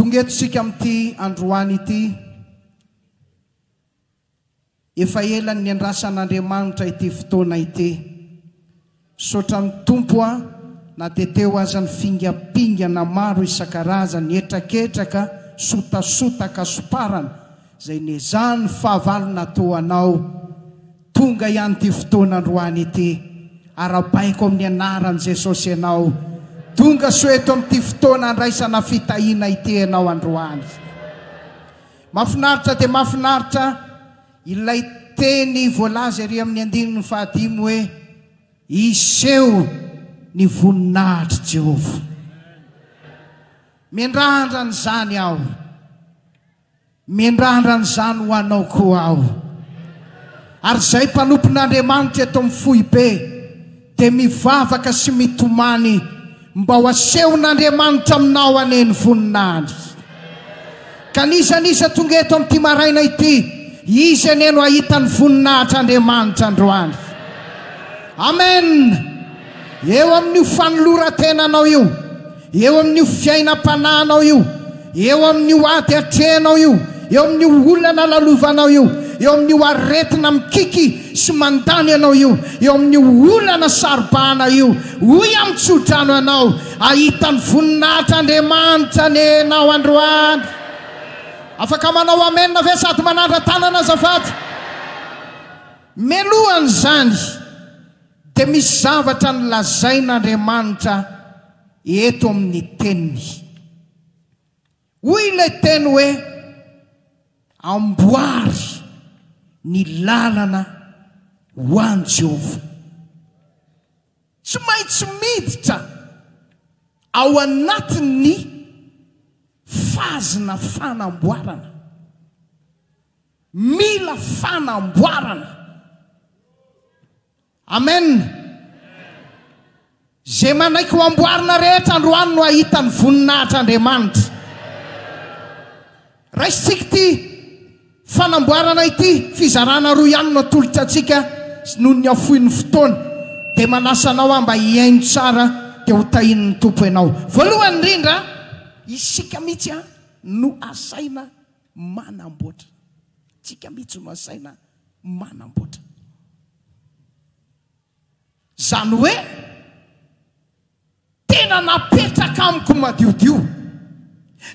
Tonga eto isika amin'ity androany ity. Efa ela ny niandrasan'Andriamanitra ity fotoana ity. Misaotra ny Tompo aho na dia teo aza ny fingampingana maro isan-karazany, hetraketraka, sotasota, kasoparana, izay nezahany ny fahavalon'Atoa anao. Tonga ihany ity fotoana androany ity. Arabaiko amin'ny anaran'i Jesosy ianao. Tonga soa eto amin'ity fotoana andraisana fitahiana ity ianao androany. Mafinaritra dia mafinaritra ilay teny voalaza ery amin'ny andininy fahadimy hoe, Hiseho ny voninahitr'i Jehovah. Miandrandra an'izany aho. Mindrandra an'izany ho anao koa aho. Ary izay mpanompon'Andriamanitra eto amin'ny foibe dia mivavaka sy mitomany mba ho asehon'Andriamanitra aminao anie ny voninahiny. Ka n'iza n'iza tonga eto amin'ity maraina ity, izy anie no hahita ny voninahitr'Andriamanitra androany. Amen! Eo amin'io fanoloran-tenanao io, Eo amin'io fiainam-panahinao io, eo amin'io ady atrehinao io, eo amin'io olana lalovanao io, eo amin'io aretina mikiky sy mandany anao io, eo amin'io olana saro-bahana io, hoy amin'ny tsodrano ianao, Hahita ny voninahitr' Andriamanitra anie ianao androany. Afaka manao Amen ve sady manandra-tanana azafady? Meloha an'izany. Dia misy zavatra nolazain'Andriamanitra eto amin'ny Teniny. Hoy ilay Teny hoe, Amboary ny lalana ho an'i Jehovah. Tsy maintsy miditra ao anatin'ny fazina fanamboarana. Mila fanamboarana. Amen. Izay manaiky ho amboarina rehetra androany no hahita ny voninahitr'Andriamanitra. Raisintsika ity fanamboarana ity, fizarana roa ihany no atolotra antsika noho ny hafoin'ny fotoana. Dia manasa anao aho mba hihaino tsara dia ho tahian'ny Tompo ianao. Voalohany indrindra, isika mihitsy no asaina. manamboatra. Tsika mitsy no asaina manamboatra. Zany hoe tena napetraka amiko madiodio,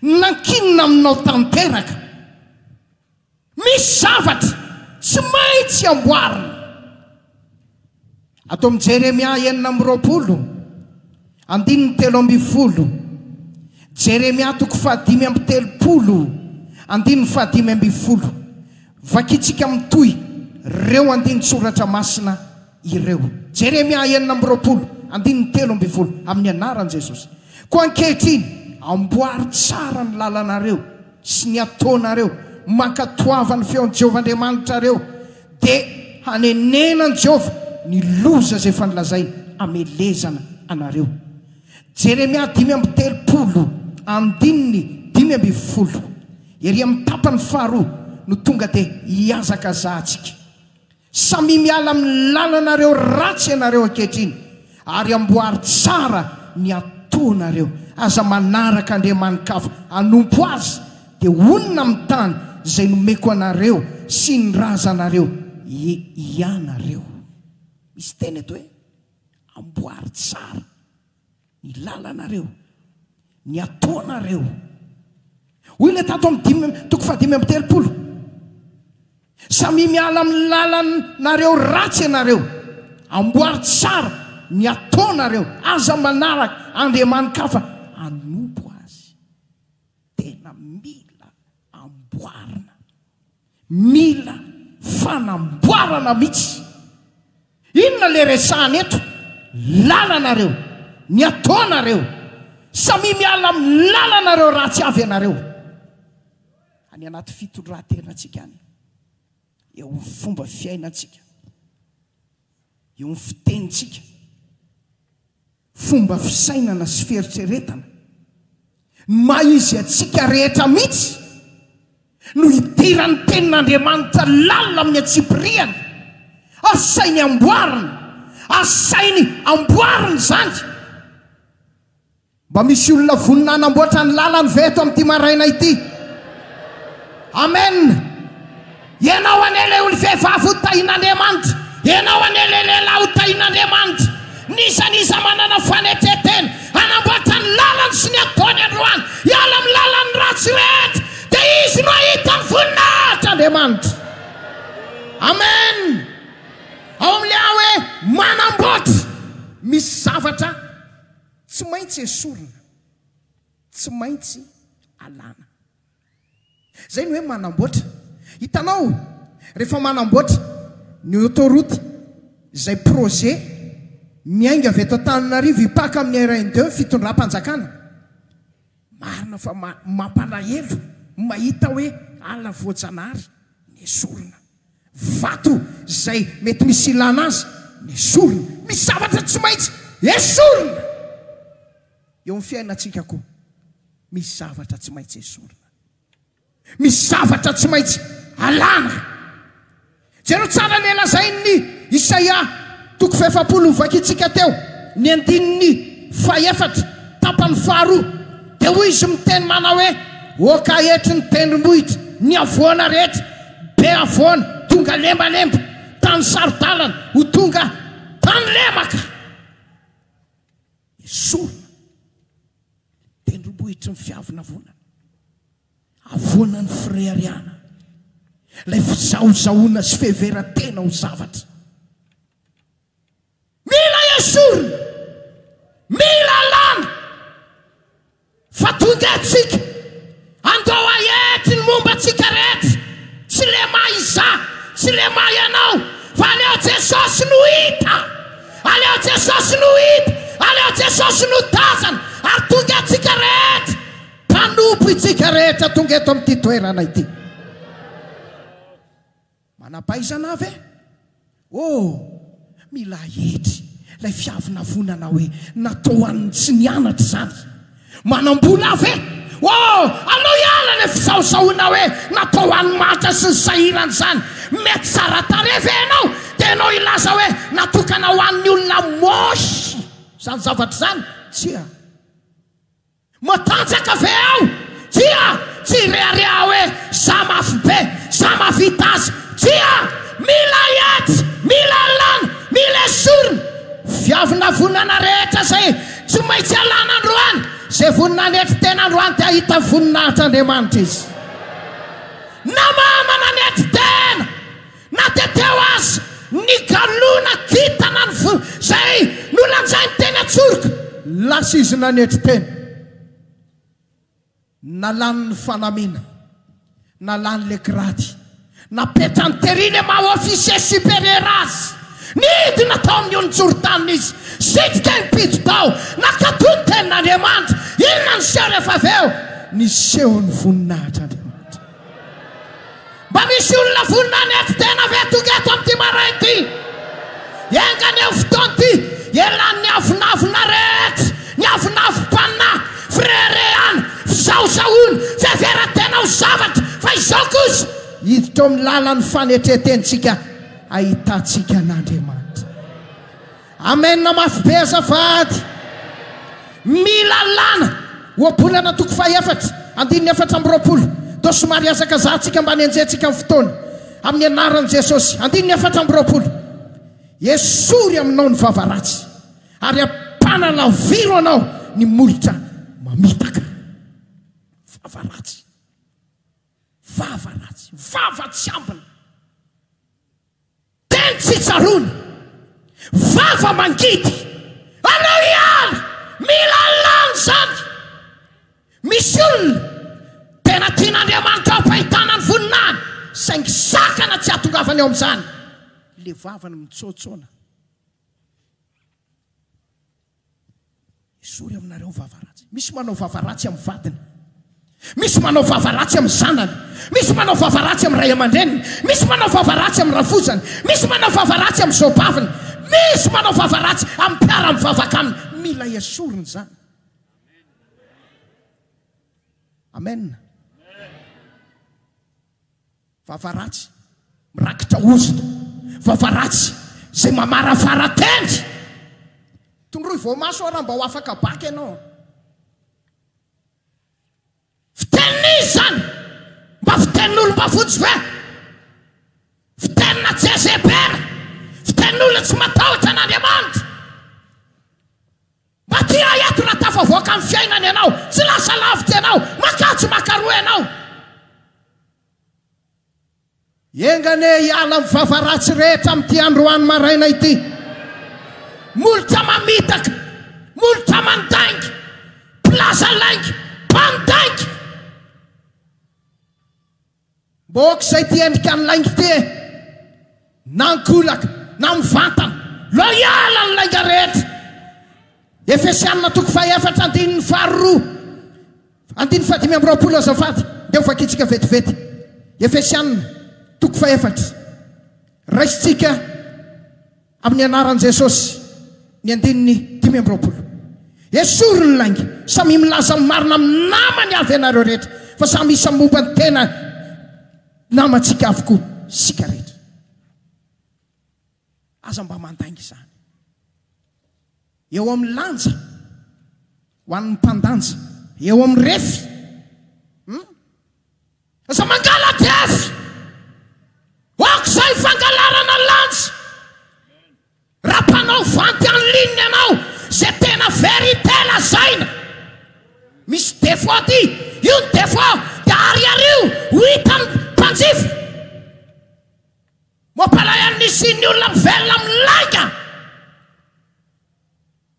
nankinina aminao tanteraka. Misy zavatra tsy maintsy amboarina. Ato amin'ny Jeremia enina amby roapolo, andininy telo ambin'ny folo. Jeremia toko fahadimy amby telopolo, andininy fahadimy ambin'ny folo. Vakintsika mitohy ireo andinin-tsoratra masina ireo. Jeremia enina amby roapolo, andininy telo ambin'ny folo, Amin'ny anaran'i Jesosy. Koa ankehitriny, amboary tsara ny lalanareo sy ny ataonareo, mankatoava ny feon'i Jehovah Andriamanitrareo, dia hanenenan'i Jehovah ny loza izay efa nolazainy hamelezana anareo. Jeremia dimy amby telopolo, andininy dimy ambin'ny folo. Ery amin'ny tapany faharoa no tonga dia hihazakazahantsika. Samia miala amin'ny lalanareo ratsy ianareo ankehitriny. Ary amboary tsara ny ataonareo. Aza manaraka andriamani-kafa. Anompo azy, dia honina amin'ny tany izay nomeko anareo sy ny razanareo hianareo. Misy teny eto hoe, Amboary tsara ny lalanareo. Ny ataonareo. Hoy ilay tato amin'ny dimy, toko fahadimy amby telopolo. Samia miala amin'ny lalanareo ratsy ianareo. Amboary tsara ny ataonareo. Aza manaraka andriamani-kafa hanompo azy. Tena mila amboarina. Mila fanamboarana mitsy. Inona le resahana eto? Lalana reo. Ny ataona reo. Samia miala amin'ny lalana reo ratsy avy ianareo. Any anaty fitondratena tsika any. Eo amin'ny fomba fiaina tsika. Eo amin'ny fiteny tsika. Fomba fisainana sy fieritreretana. Ny maha izy antsika rehetra mihitsy no hidiran'ny tenin'Andriamanitra lalina amin'ny antsipiriany. Asainy amboarina, asainy amboarina izany. Mba misy olona vonona hanamboatra ny lalany ve eto amin'ity maraina ity? Amen! Ianao anie ilay olom-vehivavy ho tahin'Andriamanitra. Ianao anie ilay lehilahy ho tahin'Andriamanitra. N'iza n'iza manana fanetren-tena hanambatra ny lalany sy ny ataony androany hiala amin'ny lalan'ny ratsy rehetra, dia izy no hahita ny voninahitr'Andriamanitra. Amen. Ao amin'ilay hoe manamboatra, misy zavatra tsy maintsy esorina, tsy maintsy alana. Izay no hoe manamboatra. Hitanao, rehefa manamboatra ny autoroute, izay projet miainga avy eto Antananarivo hipaka amin'ny RN2 ny fitondram-panjakana, marina fa mampalahelo ny mahita hoe ala voajanahary nesorina, vato izay mety misy ilana azy nesorina, misy zavatra tsy maintsy esorina! Eo amin'ny fiainantsika koa, misy zavatra tsy maintsy esorina. Misy zavatra tsy maintsy alana. Jereo tsara ilay lazain'i Isaia, toko fahefapolo novakintsika teo, ny andininy fahefatra, tapany faharoa. Dia hoy izy miteny manao hoe, Oka hetry ny tendrombohitra, ny havoana rehetra, be havoana, tonga lembalemba, tany saro-dalana, ho tonga tany lemaka. Esorina ny tendrombohitry ny fiavonavonana, avoana ny fireharehana, ilay fizahozahoana sy fiheveran-tena ho zavatra. Mila esorina! Mila alana! Fa tonga antsika, andao hahety ny momba antsika rehetra, tsy le maha izaho, tsy le maha ianao, fa aleo Jesosy no hita, aleo Jesosy no hita, aleo Jesosy no tazana, ary tonga antsika rehetra, mpanompo itsika rehetra tonga eto amin'ity toerana ity. Manampahaizana aho ve? Oh, milay hetry ilay fiavonavonana hoe natao ho an'ny tsy nianatra izany. Manam-bola aho ve? Oh, aleo hiala ilay fizahozahoana hoe natao ho an'ny mahantra sy ny sahirana izany. Mety tsara tarehy ve ianao? Dia ianao hilaza hoe natokana ho an'ny olona moche izany zavatra izany? Tsia. Matanjaka ve aho? Tsia! Tsy hirehareha aho hoe za mafy be, za mahavita azy. Tsia! Mila hiady, mila alana, mila esorina. Viavina vonana rehetra izay tsy maintsy alana androany. Izay vonona hanetry tena androany dia hahita voninahitr'Andriamanitra izy. Namana nanetry tena, Na dia teo aza ny galona kintana izay nolanjainy teny Antsoroka. Lasa izy nanetry tena. Nalany ny fanamiana, nalany ilay grady, napetrany tery ilay maha officier supérieur azy. Nidina tao amin'ny olon-tsorotaniny izy, sitrika impito tao, nakato ny tenin'Andriamanitra. Inona no niseho rehefa avy eo? Niseho ny voninahitr'Andriamanitra. Mba misy olona vonona hanetry tena ve tonga eto amin'ity maraina ity? Enganie io fotoana ity elan'ny avonavona rehetra, ny avonavom-panahy, fireharehana, fisaosaoana, fiheveran-tena ho zavatra, fa izao kosa hiditra eo amin'ny lalan'ny fanetren-tenintsika hahitantsika an'Andriamanitra. Amen mafy be azafady. Mia lalàna ohabolana toko faha efatra andininy efatra amby roapolo Toa somary hazakazaha tsika mba nenjentsika ny fotoana Amin'ny anaran'i Jesosy Andininy efatra amby roapolo Esory aminao ny vava ratsy Ary ampanalaviro anao ny molotra mamitaka Vava ratsy Vava ratsy Vava tsy ambina Teny tsy tsaroana, vava mangidy, anao ihany mila an'lany izany! Misy olona tena tian'Andriamanitra hampahitana ny voninahiny saingy sakana tsy hahatongavany ao amin'izany le vavany mitsoatsona. Esory aminareo vava ratsy. Misy manao vava ratsy amin'ny vadiny. Misy manao vava ratsy amin'ny zanany. Misy manao vava ratsy amin'ny ray aman-dreniny. Misy manao vava ratsy amin'ny rafozany. Misy manao vava ratsy amin'ny zaobaviny. Misy manao vava ratsy amin'ny mpiara-mivavaka aminy. Mila esorina izany. Amen. Vava ratsy, mirakitra ozona. Vava ratsy, izay mamarafara tendry. Tondroy voamaso aho raha mba ho afaka bac ianao an. Fitenin'iza izany? Mba fitenin'olom-bafotsy ve? Fitenina jezebera? Fitenin'olona tsy matahotra an'Andriamanitra? Mba tia ahy ato raha tafavoaka amin'ny fiainana ianao, tsy lasa lavitra ianao, makà tsy makaroa ianao. Enga anie hiala amin'ny vava ratsy rehetra amin'ity androany maraina ity. Molotra mamitaka, molotra mandainga, mpilaza lainga, mpandainga. Mba aoka izay ity endrikan'ny lainga ity e! Na ankolaka, na mivantana. Loyal amin'ny lainga rehetra. Efesiana toko fahaefatra andininy faharoa andininy fahadimy amby roapolo azafady dia ho vakintsika vetivety. Efesiana toko fahefatra. Raisintsika amin'ny anaran'i Jesosy ny andininy dimy amby roapolo. Esory ny lainga. Samia milaza ny marina amin'ny namany avy ianareo rehetra fa samy isan'ny momba ny tenany. Namantsika avokoa isika rehetra. Aza mba mandainga izany. Eo amin'ny lanja, ho an'ny mpandanja, eo amin'ny refy. Hmm? Aza mangala diavy! Aoka izay fangalarana lanja! Raha mpanao vente en ligne ianao ze tena vérité lazaina misy défaut aty io ny défaut dia ariario ho hitan'ny mpanjifa mampalahelo ny isian'ny olona mivelona amin'ny lainga.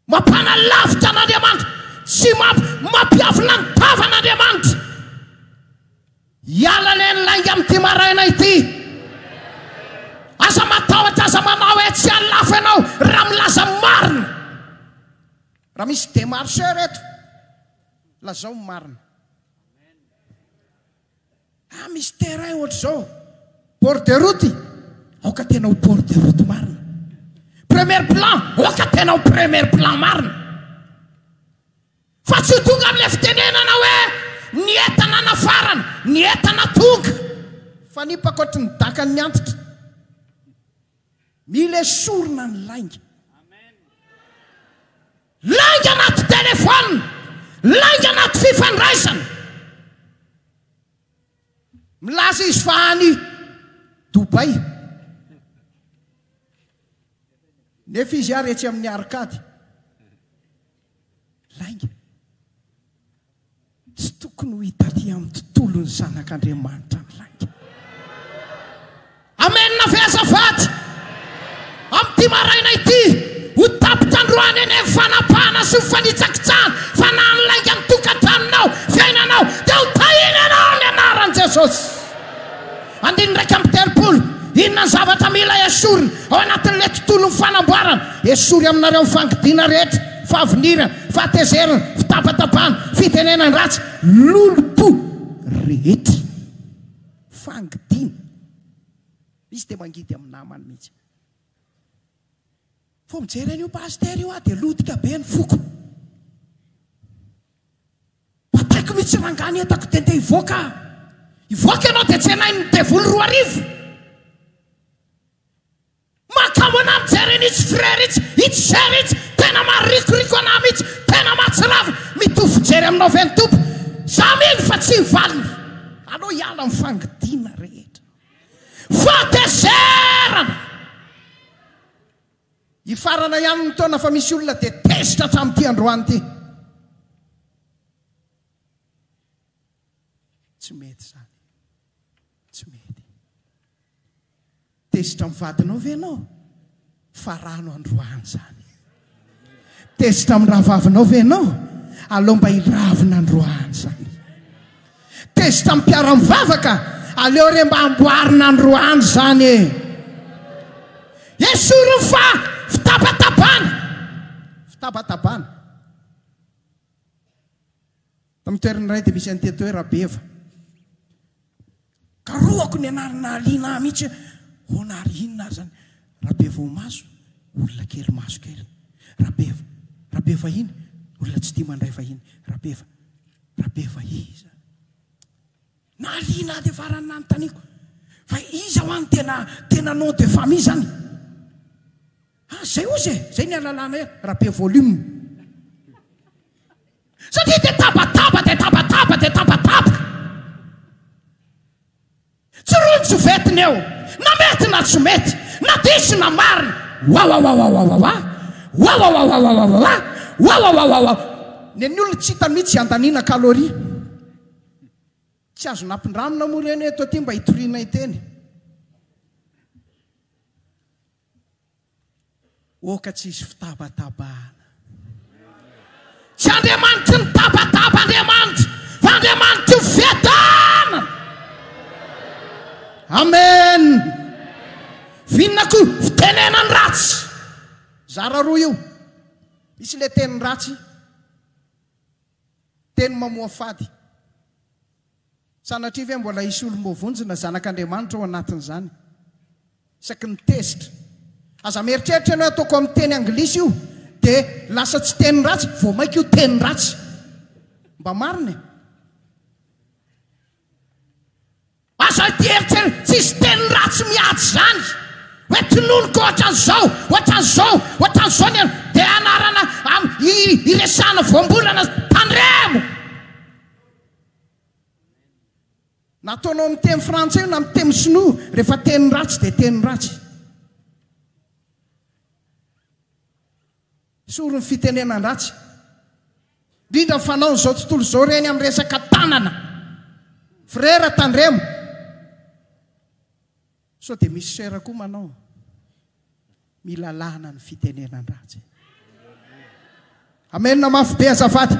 Mampanalavitra an'Andriamanitra sy mampi, mampiavona ny tavan'Andriamanitra. Hiala anie ny lainga amin'ity maraina ity. Aza matahotra, aza manao hoe tsy halafo ianao raha milaza ny marina. Raha misy démarcheur eto, lazao ny marina. Ah misy terrain ohatr'izao port de route aoka tena ho port de route marina. Premier plan aoka tena ho premier plan marina. Fa tsy ho tonga amin'ilay fitenenana hoe ny entana nafarana, ny entana tonga. Fanipaka ohatry ny dakan'ny antitra. Mila esorina ny lainga. Lainga anaty telefaonina, lainga anaty fifandraisana. Milaza izy fa any Dubai, nefa izy ary etsy amin'ny Arcade. Lainga. Tsy tokony ho italia amin'ny tontolon'ny zanak'Andriamanitra ny lainga. Amena ve azafady? Amin'ity maraina ity, ho tapitra androany anie ny fanapahana sy ny fanitsakitsahana, fa na ny lainga ny tokantranonao, fiainanao, dia ho tahina ianao amin'ny anaran'i Jesosy. Andininy iraika amby telopolo, Inona ny zavatra mila esorina ao anatin'ilay tontolon'ny fanamboarana? Esory aminareo ny fangidiana rehetra, fahavinirana, fahatezerana, fitabatabana, fitenenan-dratsy, lolompo rehetra. Fangidiana. Misy dia mangidy amin'ny namany mihitsy. Vao mijery an'io pasitera io aho dia lotika be ny foko. Bataiko mitsy rangah ny entako dia ndeha hivoaka aho. Hivoaka ianao dia tsenain'ny devoly roa arivo. Mahakamo anah mijery an'itsy frère itsy, itsy sœur itsy, tena maharikoriko anah mitsy, tena mahatsiravina, mitovy fijery aminao ve ny Tompo? Zah mino fa tsy hivaliny. Aleo hiala amin'ny fangidiana rehetra. Fahatezerana! Hifarana ihany ny taona fa misy olona dia tezitra hatramin'ity androany ity. Tsy mety izany. Tsy mety. Tezitra amin'ny vadinao ve ianao? Farano androany izany. Tezitra amin'ny rahavavinao ve ianao? Aleo mba hiravina androany izany. Tezitra am piara mivavaka aleo re mba amboarina androany izany e! Esoriny fa fitabatabana! Fitabatabana! Tam toerana iray dia misy an'ity etoe Rabeva. Karohako ny anarana nahaliana ahy mihitsy hoe ahoana ary inona ary izany Rabevohomaso olona kely maso kely Rabeva Rabevahiny olona tsy tia mandray vahiny Rabeva Rabevaiza nahaliana ahy dia farany nanontaniako fa iza hoa ny tena tena nom de famille izany ah zay ozy e zay ny alalana e Rabevolim Satria dia tabataba dia tabataba dia tabataba. Tsy ronjovety ny eo, na mety na tsy mety, na diso na marina. Wawawawawawawa, wawawawawawawa, wawawawawa. Nen'ny olona tsy hita mihitsy andaniana calorie. Tsy azo nampindramina moa ireny hoe eto aty mba hitoriana hiteny. Oka tsy hisy fitabatabahana. Tsy Andriamanitry ny tabataba Andriamanitra fa Andriamanitry ny fiadanana. Amen. Vinona koa fitenenan'ny ratsy. Zara roa io. Misy le teny ratsy. Teny mamoafady. Sanatria ve mbola hisy olom-boavonjina, zanak'Andriamanitra, ao anatin'izany? Isaky ny tezitra. Aza mieritreritra ianao hoe ataoko amin'ny teny anglisy io, dia lasa tsy teny ratsy, vao mainka io teny ratsy. Mba marina e! Aza hieritrery, tsisy teny ratsy miady izany hoe tononiko ohatran'izao, ohatran'izao, ohatran'izao ny anao. Dia anarana am i iresahana voambolana, tandremo! Na ataonao amin'ny teny frantsay io na amin'ny teny sinoa, rehefa teny ratsy dia teny ratsy. Tsory ny fitenenan-dratsy, indrindra ny fanaon'izao tontolo izao ireny amin'ny resaka tanana. Frera tandremo. Sao dia misy soeur koa manao mila lana ny fitenenan-dratsy. Amen mafy be azafady.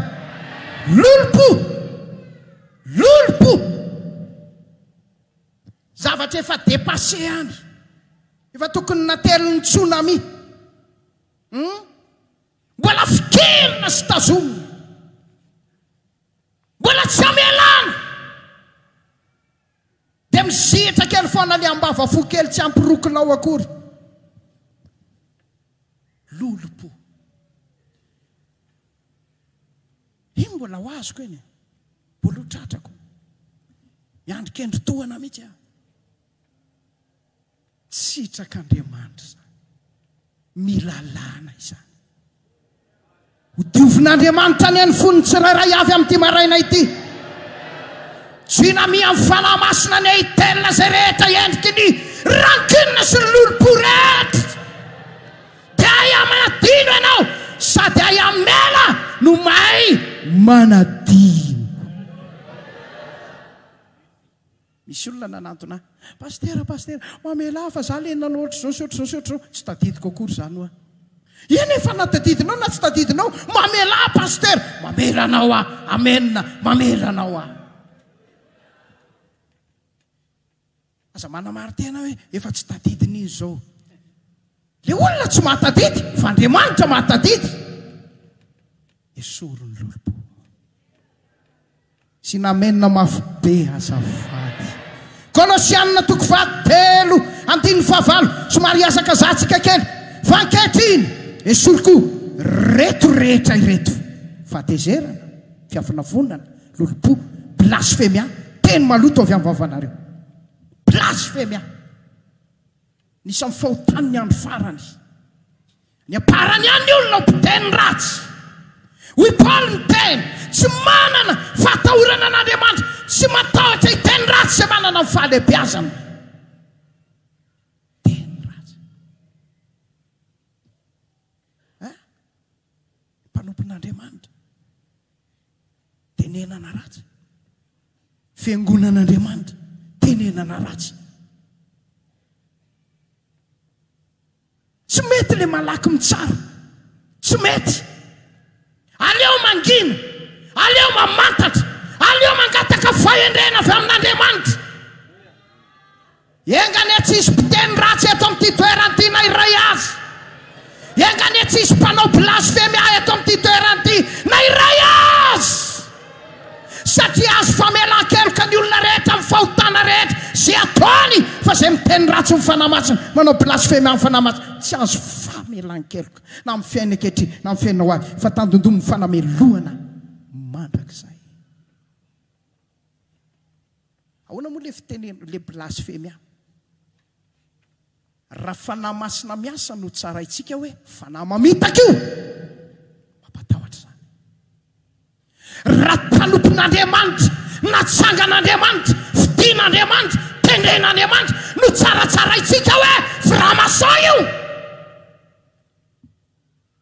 Lolompo! Lolompo! Zavatra efa depasser any. Efa tokony natelin'ny tsunami. Hum! Mbola fikerina sy tazomina! Mbola tsy amelana! Dia mizihitra kely foana le ambava fo kely tsy ampy roa kilao akory. Lolompo. Iny mbola ho azoko iny. Mbola ho tratrako. Miandry kendry tohana mihitsy aho. Sitrak'Andriamanitra izany. Mila alana izany. Hodiovin'Andriamanitra anie ny fon'ny tsirairay avy amin'ity maraina ity. Jinamiha amin'ny fanahy masina anie hitelina izay rehetra endriky ny rankine sy ny lolompo rehetra. Dia hay amanadino ianao sady hay amela no mahay manadino. Misy olona nanantona ahy, Pasitera, Pasitera, mamelà ahy fa izaho ilay nanao ohatr'izao sy ohatr'izao sy ohatr'izao. Tsy tadidiko akory izany hoa. Eny e, fa na tadidinao na tsy tadidinao, mamelà ahy Pasitera! Mamela anao aho! Amen! Mamela anao aho! Aza manamari-tena hoe efa tsy tadidiny izy izao. Ilay olona tsy mahatadidy, fa Andriamanitra mahatadidy. Esory ny lolompo. Sinamena mafy be azafady. Kolosiana toko faha telo andininy faha valo somary hiazakazaha tsika kely fa ankehitriny esory koa reto rehetra ireto, fahatezerana, fiavonavonana, lolompo, blasfemia, teny maloto avy am vavanareo. Blasfemia. Anisan'ny fahotan'ny andro farany ny amparany ihany ny olona ho mpiteny ratsy. Hoy Paoly niteny, Tsy manana fahatahorana an'Andriamanitra, tsy matahotra hiteny ratsy izay manana ny fahalehibiazana. ny mpanompon'Andriamanitra, tenenana ratsy. Fiangonan'Andriamanitra, tenenana ratsy. Tsy mety le malaky mitsara. Tsy mety. Aleo mangina, aleo mamantatra, aleo mangataka fahendrena avy amin'Andriamanitra. Enga anie tsy hisy mpiteny ratsy eto amin'ity toerana ity na iray aza! Enga anie tsy hisy mpanao blasfemia eto amin'ity toerana ity na iray aza! Satria azo famelan-keloka ny olona rehetra amin'ny fahotana rehetra izay ataony fa izay miteny ratsy ny Fanahy Masina, manao blasfemia ny Fanahy Masina, tsy azo famelan-keloka na amin'ny fiainany ankehitriny na amin'ny fiainany ho avy fa tandindomin'ny fanamelohana mandrakizay. Ahoana moa le fiteny le blasfemia? Raha fanahy masina miasa no tsaraintsika hoe fanahy mamitaka io, mampatahotra izany. Raha mpanompon'Andriamanitra, natsangan'Andriamanitra, fidin'Andriamanitra, tendren'Andriamanitra no tsaratsaraintsika hoe franc-maçon io,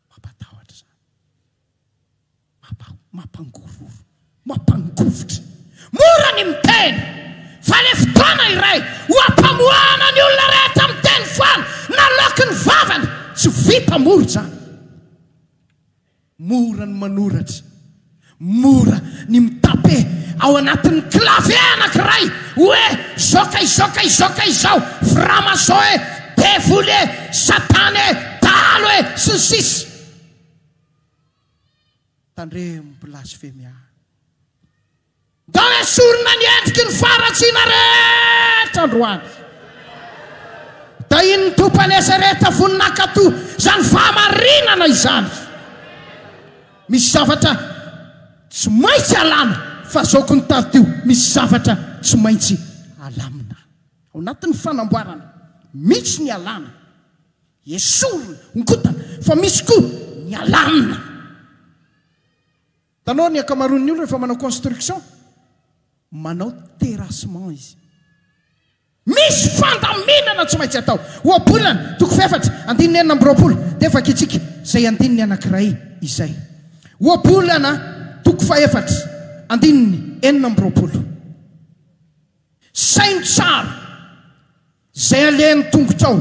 mampatahotra izany. Mapa, mampangororo, mampangovitra. Mora ny miteny fa le fotoana iray ho ampamoahana ny olona rehetra miteny foana naloaky ny vavany tsy vita mora izany. Mora ny manoratra, mora ny mitape ao anatin'ny clavier anakiray hoe izao ka izao ka izao ka izao, framason e, devoly e, satana e, dahalo e, sy ny sisa. Tandremo blasfemia. Ndao esorina ny endriky ny faharatsiana rehetra androany. Dahin'ny Tompan'Esereta vonin'ankato izany fahamarinana izany. Misy zavatra tsy maintsy alana fa zao kony taritio misy zavatra tsy maintsy alamina. Ao anatin'ny fanamboarana mitsy ny alana. Esorina, ongotana, fa misy koa ny alamina. Hitanao ny ankamaroan'ny olona rehefa manao construction, manao terrassement izy. Misy fandaminana tsy maintsy atao. Ohabolana, toko fahefatra, andininy enina amby roapolo, dia vakitsika izay andininy anankiray izay. Ohabolana, toko fahefatra, andininy enina amby roapolo. Saino tsara Izay alehan'ny tongotrao,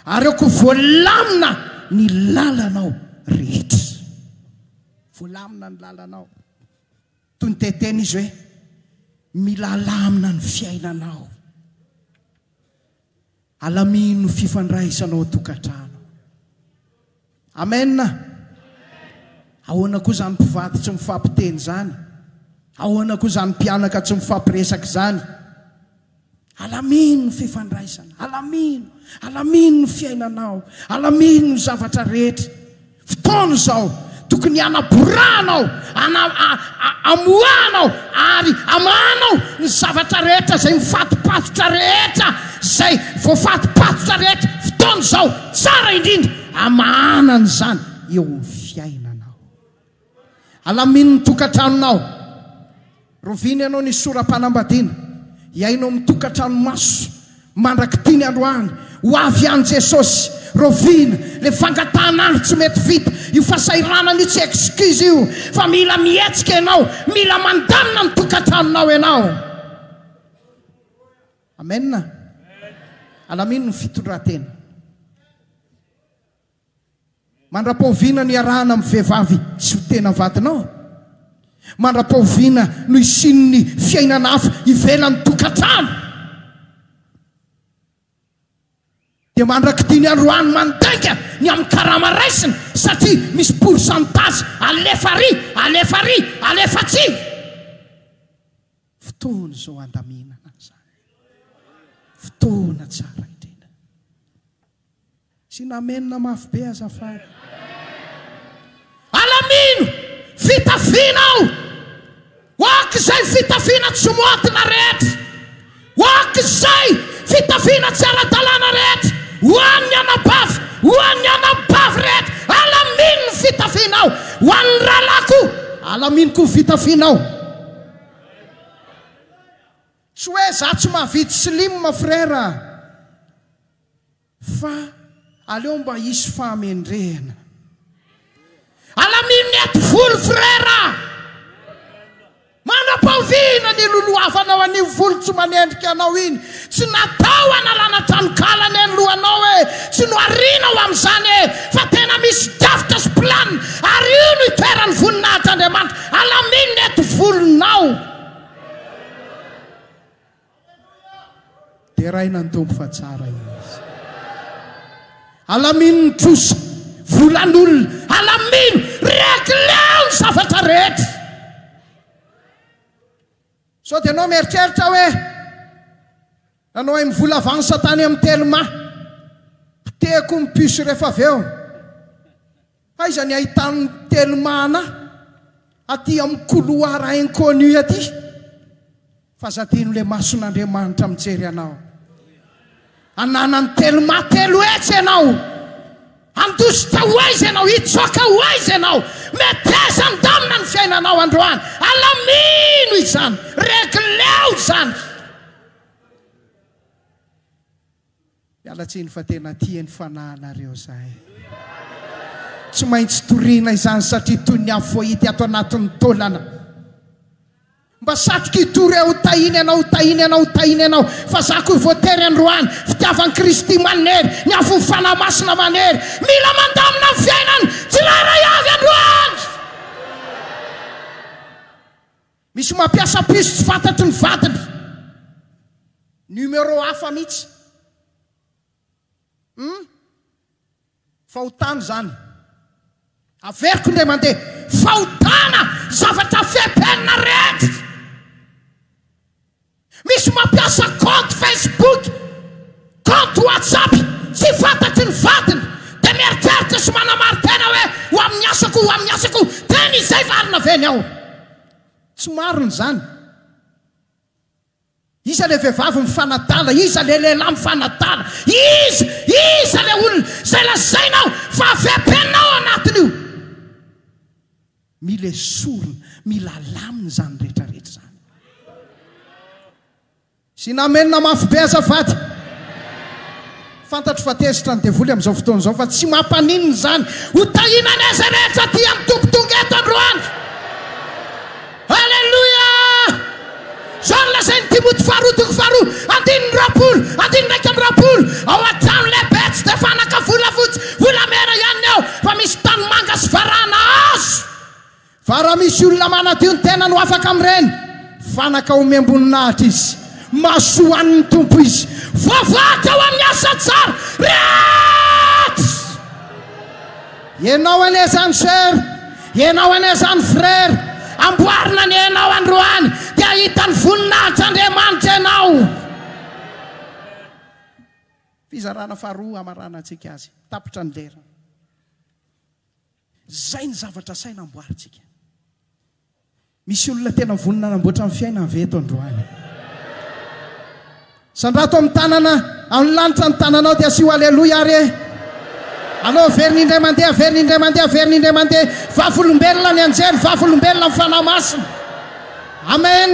ary ao koa voalamina ny lalanao rehetra. Voalamina ny lalanao. Toy ny te-hiteny izy hoe, mila alamina ny fiainanao. Alamino ny fifandraisanao an-tokantrano. Amen! Ahoana koa izany mpivady tsy mifampiteny izany? Ahoana koa izany mpianaka tsy mifampiresaka izany? Alamino ny fifandraisana, alamino, alamino ny fiainanao, alamino ny zavatra rehetra. Fotoana izao, tokony hanaborahanao, ana, a, a, amoahanao ary amahanao ny zavatra rehetra izay mifatopatotra rehetra, izay voafatopatotra rehetra. Fotoana izao, tsara indrindra, Amahanany izany eo amin'ny fiainanao. Alaminin'ny tokantranonao. Roviny ianao ny sora-panambadiana. Hiaino amin'ny tokantrano maso mandrak'ity ny androany. Ho avy any Jesosy. Rovina le fangatahan'andro tsy mety vita. Io fasahiranana io tsy excuse io. Fa mila mihetsika ianao. Mila mandamina ny tokantranonao ianao. Amen Alamino ny fitondratena Mandrapaoviana no iarahana amin'ny vehivavy tsy ho tena vadinao? Mandrapaoviana no isian'ny fiainana hafa ivelan'ny tokantrano? Dia mandrak'ity ny androany mandainga ny amin'ny karama raisina satria misy pourcentage alefa ary, alefa ary, alefa atsy. Fotoana izao handaminana an'izany. Fotoana tsara indrindra. Asiana Amen mafy be azafady. Alamino fitafiana aho ho ak'izay fitafiana tsy moadina rehetra, ho ak'izay fitafiana tsy ara-dalàna rehetra, ho an'ny anabavy, ho an'ny anabavy rehetra, alamino ny fitafianao, ho an'ny rahalahy koa, alamino koa ny fitafianao. Tsy hoe za tsy mavidy slim frère a! Fa aleo mba hisy fahamendrehana. Alamino ny ati volo frère a! Manam-pahoviana ny hilolohavanao an'io volo tsy manendrika anao iny Tsy natao hanalana tranonkala anie ny lohanao e! Tsy noharianao amin'izany e! Fa tena misy drafitra sy plan ary io no itoeran'ny voninahitr'Andriamanitra alaminina eto volonao! Deraina ny Tompo fa tsara Izy. Alamino ny trosa, volan'olona, alamino, regleo ny zavatra rehetra. Sao dia ianao mieritreritra hoe nanao hay mivola avansa tany amin'ny Telma, potehiko ny puce rehefa avy eo. Aiza ny ahitan'ny Telma anah aty amin'ny couloir inconnu aty? Fa za dino le mason'Andriamanitra mijery anao. Ananan'ny telma telo hetsy ianao! Handositra ho aiza ianao? Hitsoaka ho aiza ianao? Meteza ndamina ny fiainanao androany! Alamino izany! Regleo izany! Miala tsiny fa tena tia ny fanahinareo zahay. Tsy maintsy toriana izany satria toy ny afo hahity ato anatin'ny taolana. Mba satriko hitory aho tahiny anao tahiny anao tahiny anao fa za koa voatery androany fitiavan Kristy maninery ny afon'ny fanahy masina manery mila mandamina ny fiainany tsirairay avy androany misy mampiasa piso tsy fantatry ny vadiny numero hafa mitsy hum Fahotana izany. Averiko indray mandeha. Fahotana zavatra VPN rehetra. Misy mampiasa compte Facebook, compte WhatsApp tsy fantatry ny vadiny dia mieritreritra sy manamarin-tena hoe ho amin'ny asako, ho amin'ny asako, tena izay valiny avy eny ao. Tsy marina izany. Iza ilay vehivavy mifanadala? Iza ilay lehilahy mifanadala? Iza? Iza ilay olona izay lazainao fa avy am-penina ao anatin'io? Mila esorina, mila alamina izany rehetrarehetra izany. Sina Amena mafy be azafady. Fantatro fa tezitra ny devoly amin'izao fotoana izao fa tsy mampaninona izany. Ho tahiana anie izay rehetra aty amin'ny toby tonga eto androany. Aleloia! Izao no lazain'i Timoty faharoa toko faharoa andininy roapolo, andininy iraika amby roapolo, Ao an-trano lehibe tsy dia fanaka volafotsy, volamena ihany ny ao, fa misy tanimanga sy varahina hazo. Fa raha misy olona manadio ny tenany ho afaka amin'ireny fanaka, omem-boninahitra izy, mahasoa ho an'ny Tompo izy, voavaky ao amin'ny asa tsara rehetra. Ianao anie izany soeur, ianao anie izany frère, amboarina anie ianao androany dia hahita ny voninahitr'Andriamanitra ianao. Fizarana faharoa hamaranantsika azy, tapitra ny lera. Izay ny zavatra asaina amboarintsika. Misy olona tena vonona hanamboatra ny fiainany ve eto androany? Sandrato amin'ny tanana, amin'ny lanitra ny tananao dia asio Aleloia ary e! Aleo averina indray mandeha, averina indray mandeha, averina indray mandeha. Vavolombelona ny anjely, vavolombelona ny Fanahy Masina. Amen.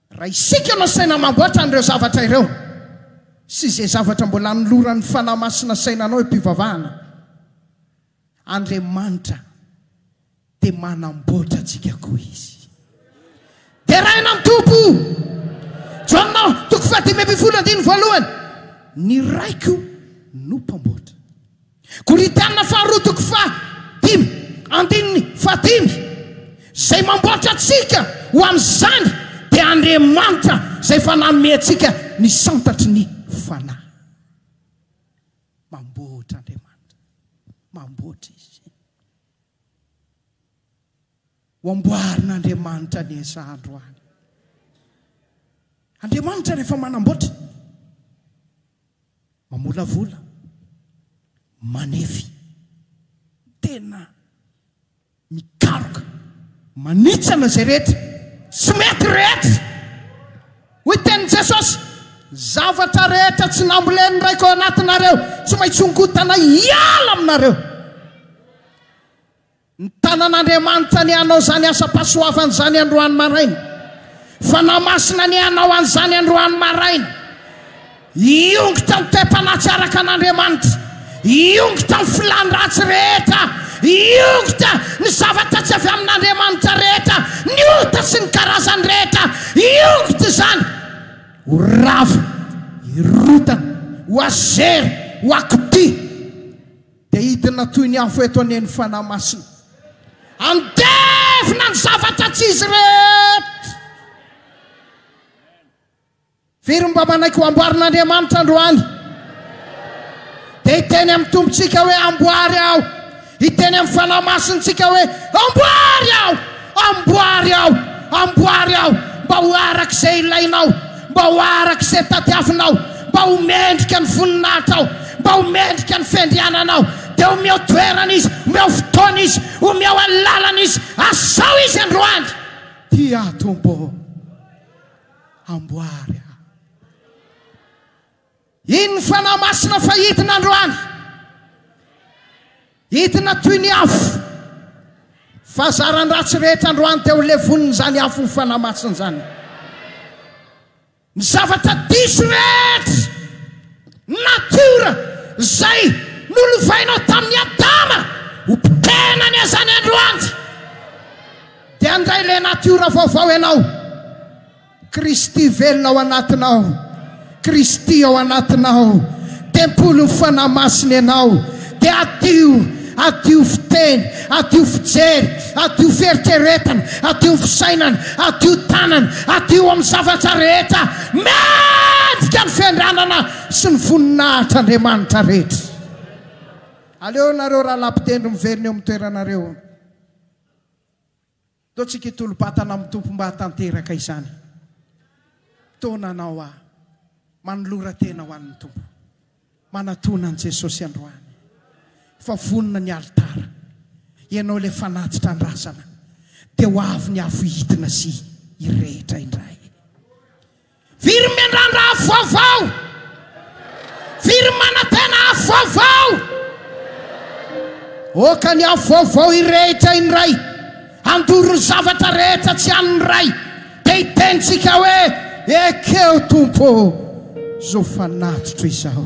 Raha isika no asaina hamboatra an'ireo zavatra ireo sy izay zavatra mbola anoloran'ny Fanahy Masina saina anao am-pivavahana, Andriamanitra dia manamboatra antsika koa Izy. Deraina amin'ny Tompo! Jaona toko fahadimy ambin'ny folo andininy voalohany, Ny Raiko no Mpamboatra. Korintiana faharoa toko faha dimy andininy faha dimy, Izay mamboatra antsika ho amin'izany dia Andriamanitra izay efa nanome antsika ny santatry ny Fanahy. Mamboatra Andriamanitra. Mamboatra Izy. Ho amboarin'Andriamanitra anie izaho androany. Andriamanitra rehefa manamboatra, Mamolavola, manefy, tena mikaroka, manitsana izay rehetra tsy mety rehetra. Hoy tenin'i Jesosy, Zavatra rehetra tsy nambolen'ny Raiko ao anatinareo, tsy maintsy hongotana hiala aminareo. Nitana an'Andriamanitra ny hanao izany asam-pahasoavana izany androany maraina. Fanahy Masina ny hanao an'izany androany maraina. Hiongy tamin'ny toe-panahy tsy araka an'Andriamanitra. Hiongy tamin'ny filàny ratsy rehetra. Hiongy ta ny zavatra tsy avy amin'Andriamanitra rehetra, ny ota sy ny karazany rehetra. Hiongy ta izany. Ho rava, hirotana, ho azera, ho akotia. Dia hidina toy ny afo eto anie ny Fanahy Masina. Handevina ny zavatra tsy izy rehetra. Firy no mba manaiky ho amboarin'Andriamanitra androany? Dia hiteny amin'ny Tompontsika hoe, Amboary aho. Hiteny amin'ny Fanahy Masintsika hoe, Amboary aho. Amboary aho, amboary aho, mba ho araka izay ilainao, mba ho araka izay tadiavinao, mba ho mendrika ny voninahitrao, mba ho mendrika ny fiandriananao. Dia omeo toerana Izy, omeo fotoana Izy, omeo alalana Izy, asao Izy androany. Tia Tompo ô, amboary aho. Iny ny Fanahy Masina fa hidina androany. Hidina toy ny afo. Fa zaran-dratsy rehetra androany dia ho levonin'izany afon'ny Fanahy Masina izany. Ny zavatra diso rehetra, natiora, izay nolovainao tamin'i Adama, ho potehina anie izany androany. Dia handray ilay natiora vaovao ianao. Kristy velona ao anatinao. Kristy ao anatinao. Tempolin'ny Fanahy Masina ianao. Dia adio, adio fiteny, adio fijery, adio fieritreretana, adio fisainana, adio tanana, adio amin'ny zavatra rehetra. Mendrika ny fiandranana sy ny voninahitra Andriamanitra rehetra. Aleo nareo rahalahy mpitendry miverina eo amin'ny toeranareo. Toa tsy kitolo-batana amin'ny Tompo mba hahatanteraka izany toa nanao ahy. Manolora tena ho an'ny Tompo. Manatona an'i Jesosy androany fa vonona ny alitara. Ianao ilay fanatitra an-drazana dia ho avy ny afo hihitina sy hirehitra indray. Very miandrandra afo vaovao. Very manantena afo vaovao. Oka ny afo vaovao hirehitra iny Ray. Handoro ny zavatra rehetra tsy an'ny Ray. Dia hitentsika hoe, Ekeo Tompo ô, izao fanatitro izao.